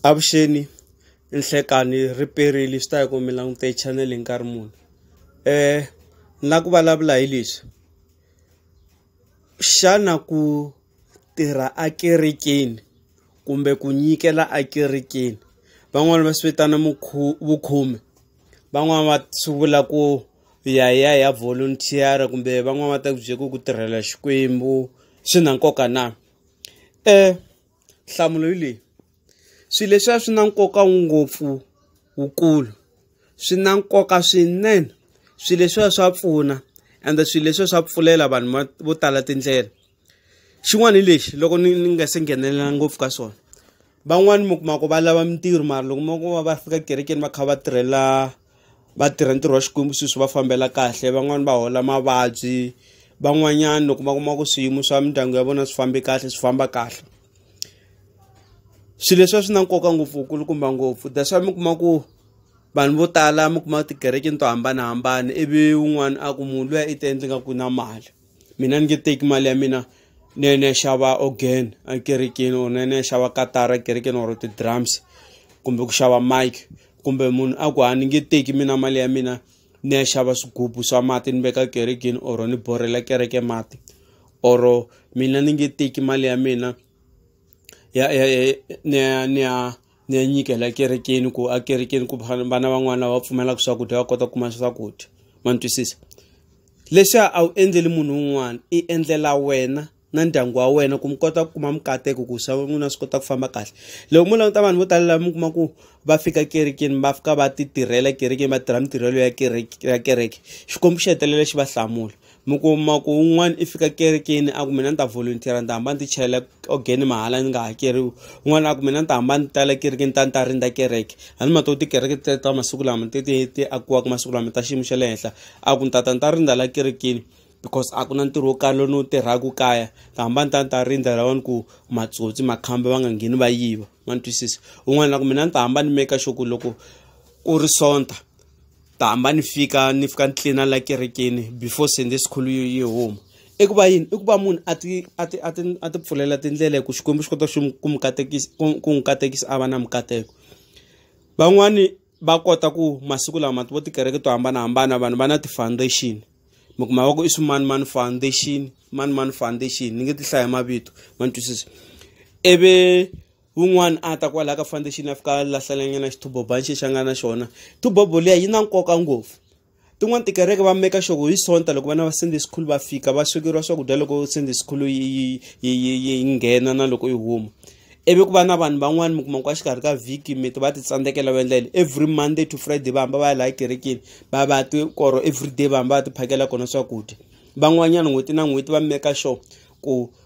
Avuxeni nhlekeani ri perile swi ta ya ku mi langute chanel nkarhi muni um ni la ku vulavula hi leswi xana ku tirha a kerekeni kumbe ku nyikela a kerekeni van'wani va swi vitana vukhume van'wani va swi vula ku ya ya ya volunteer kumbe van'wani va ta ku byela ku ku tirhela Xikwembu swi na nkoka na um Nhlamulo hi leyi, swilo leswiya swi na nkoka ngopfu wukulu swi na nkoka swinene swilo leswiya swa pfuna ende swilo leswiya swa pfulela vanhu vo tala tindlela xin'wana hi lexi loko ni ni nga se nghenelela ngopfu ka swona van'wani mi kuma ku va lava mintirho mara loko mo va va fika ekerekeni va kha va tirhela. va tirha ntirho wa Xikwembu swilo swi va fambela kahle van'wani va hola mavabyi van'wanyana loko va kuma ku swiyimo swa mindyangu ya vona swi fambe kahle swi famba kahle swilo leswi swi na nkoka ngopfu kulukumba ngopfu that's why mi kuma ku vanhu vo tala mi kuma tikerekeni to hambanahambana ivi wun'wana a ku munhu luya i ta endle nga ku na mali. mina ni nge teki mali ya mina ni ya ni ya xava organ ekerekeni or ni ya ni ya xava katara ekerekeni or ti-drums kumbe ku xava mike kumbe munhu a ku ha ni nge teki mina mali ya mina ni ya xava swigubu swa mati ni veka kerekeni or ni borhela kereke mati or mina ni nge teki mali ya mina ya ya ya ni ya ni ya. ni ya nyikela ekerekeni ku akerekeni ku vana van'wana lava pfumelaka swakudya va kota ku kuma swakudya ma ni twisisa leswi a wu endleli munhu un'wana i endlela wena na ndyangu wa wena ku mi kota ku kuma mikateko ku swa n'wina swi kota ku famba kahle loko mo languta vanhu vo tala lava mi kuma ku va fika kerekeni va fika va ti tirhela kerekeni va tirha mitirhelo ya kereke ya kereke xikwembu xi hetelela xi va hlamula mi kuma ku un'wana i fika kerekeni a ku mina ni ta volunteer ni ta hamba ni ti chelela ogeni mahala ni nga hakeriwi un'wana a ku mina ni ta hamba ni tala kerekeni ta ni ta rindza kereke a ni ma to tikereke te ta masiku lama ti ti ti akiwaka masiku lama ta xiyimo xa le henhla a ku ni tata ni ta rindza la kerekeni because a ku na ntirho wo karhi lowu ni wu tirhaka kaya ni ta hamba ni ta ni ta rindza lawani ku matsotsi makhamba va nga ngheni va yiva ma ni twisisa un'wana a ku mina ni ta hamba ni make sure ku loko ku ri sonta ta hamba ni fika ni fika ni tlina la kerekeni before sunday school yi yi huma i ku va yini i ku va munhu a ti a ti a ti a ti pfulela tindlela hi ku xikwembu xi kota xi ku mi katekisa ku n'wi katekisa a va na mikateko van'wani va kota ku masiku lama vo tikereke to hambanahambana vanhu va na ti-foundation mi kuma va ku i swimani mani foundation mani mani foundation ni nge ti hlaya mavito ma ni twisisa ivi un'wana a ta kwalaha ka foundation a fika a lahlalanyana xithuboba nxi xa nga na xona thubobo liya yi na nkoka ngopfu tin'wana tikereke va meka xoko hi sonta loko vana va sende sikhulu va fika va swekeriwa swakudya loko sende sikhulu yi nghena na loko yi huma ivi ku va na vanhu van'wani mi kuma ku a xikarhi ka vhiki miti va ti tsandzekela va endla yini every monday to friday va hamba va ya laha kerekeni va va ti koro every day va hamba va ti phakela kona swakudya van'wanyana n'hweti na n'hweti va meka sure ku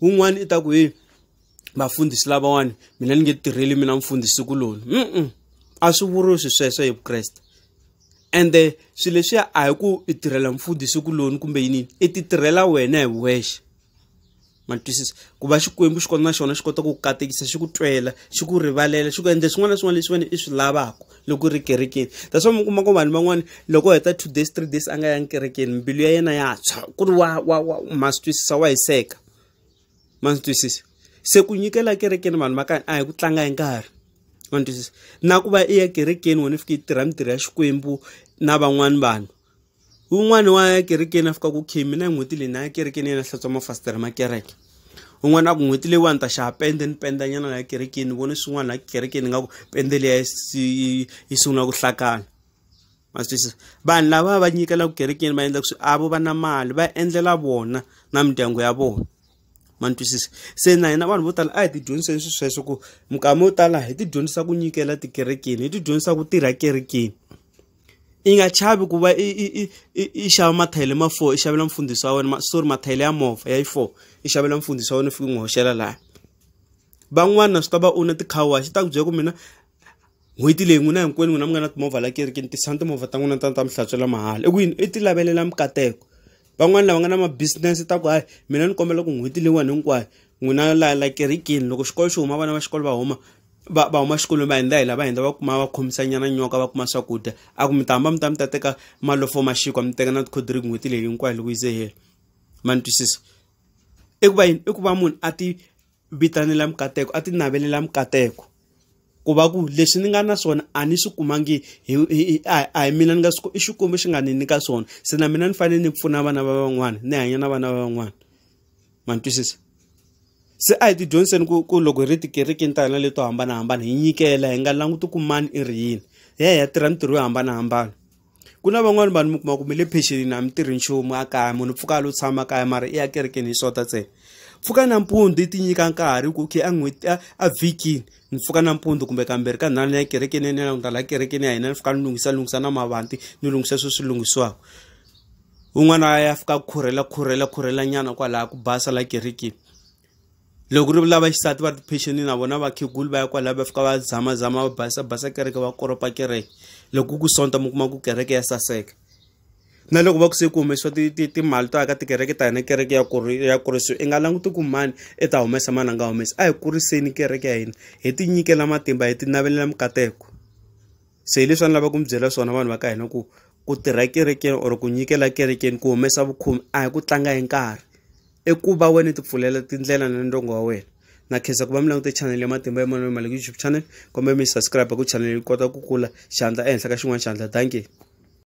wun'wani i ta ku he vafundhisi lavawani mina ni nge tirheli mina mfundhisi kuloni mm a swi vuriwi swi sweswo hi vukreste ende swilo leswiya a hi ku i tirhela mfundhisi kuloni kumbe yinini i ti tirhela wena hi wexe ma twisisa ku va xikwembu xi kona na xona xi kota ku katekisa xi ku twela xi ku rivalela xi ku endla swin'wana na swin'wana leswi wena i swi lavaka loko u ri kerekeni that's why mi kuma ku vanhu van'wana loko heta two days three days a nga yangi kerekeni mbilu ya yena ya tshwa ku ri wa wa wa ma swi twisisa wa hiseka ma swi twisisa se ku nyikela kerekeni vanhu va kani a hi ku tlanga hi nkarhi ma ni twisisa na ku va i ya kerekeni wena i fike i tirha mitirho ya xikwembu na van'wani vanhu Un'wana wa ya ekerekeni a fika ku khimi na n'hweti leyi na ya ekerekeni yena hlantswa mafasitere ma kereke un'wana a ku n'hweti leyiwani ta xava pende ni penda nyana la ekerekeni vone swin'wana la kerekeni nga ku pende leyi yi sungula ku hlakana ma swi twisisa vanhu lava va nyikela ku kerekeni va endla ku swi avo va na mali va endlela vona na mindyangu ya vona ma ni twisisa se na hina vanhu vo tala a hi ti dyondziseni swi sweswo ku minkama yo tala hi ti dyondzisa ku nyikela tikerekeni hi ti dyondzisa ku tirha kerekeni i nga chavi ku va i i i i xava mathayele ma four i xavela mfundhisi wa wena ma sorry mathayele ya movha ya yi four i xavela mfundhisi wa wena u fika u n'wi hoxela laha van'wana swi ta va u na ti-car wash ta ku byela ku mina n'hweti leyi n'wina hinkwenu n'wina mi nga na timovha la kerekeni tisani timovha ta n'wina ta ta mi hlantswela mahala i ku yini i ti lavelela mikateko van'wani lava nga na ma-business ta ku hayi mina ni kombela ku n'hweti leyiwani hinkwayo n'wina la la kerekeni loko xikolo xi huma vana va xikolo va huma va va huma xikolweni va hindza hi la va hindza va kuma va khomisa nyana nyoka va kuma swakudya a ku mi ta hamba mi ta mi ta teka malofo ma xikwa mi teka na tikhodriki n'hweti leyi hinkwayo loko yi ze hela ma ni twisisa i ku va yini i ku va munhu a ti vitanela mikateko a ti navelela mikateko ku va ku leswi ni nga na swona a ni swi kumangi hi a hi mina ni nga swi i xikwembu xi nga ni nyika swona se na mina ni fanele ni pfuna vana va van'wana ni hanya na vana va van'wana ma ni twisisa se a hi ti dyondziseni ku ku loko hi ri tikerekeni ta hina leto hambanahambana hi nyikela hi nga languti ku mani i ri yini hi ya hi ya tirha mintirho yo hambanahambana ku na van'wani vanhu mi kuma ku mi le phexelini a mi tirhi nchumu a kaya munhu pfuka a lo tshama kaya mara i ya kerekeni hi swota ntsena pfuka nampundzu i ti nyika nkarhi ku okay a n'hweti a vhikini ni pfuka nampundzu kumbe kambirhi ka nharhu ni ya kerekeni ya nina ni ta laha kerekeni ya hina ni pfuka ni lunghisa lunghisa na mavanti ni lunghisa sweswi lunghisiwaka un'wana a ya fika khurhela khurhela khurhela nyana kwalaha ku basa la kerikini loko ri lava xisati va ri tiphexeni na vona vakhegulu va ya kwalaho va fika va zamazama va basa basa kereke va koropa kereke loko ku sonta mi kuma ku kereke ya saseka na loko va ku se ku humesiwa timali to aka tikereke ta hina kereke ya ya kurisiwa i nga languti ku mani i ta humesa mani a nga humesa a hi kuriseni kereke ya hina hi tinyikela matimba hi ti navelela mikateko se hi leswi a ni lava ku mi byela swona vanhu va ka hina ku ku tirha kerekeni or ku nyikela kerekeni ku humesa vukhomi a hi ku tlanga hi nkarhi i ku va wena ti pfulela tindlela na ndongo wa wena na khensa ku va mi langute chanel ya matimba ya manoni mali youtube channel kumbe mi subscribe ku chanel yi kota ku kula xandla ehenhla ka xin'wana xandla dankie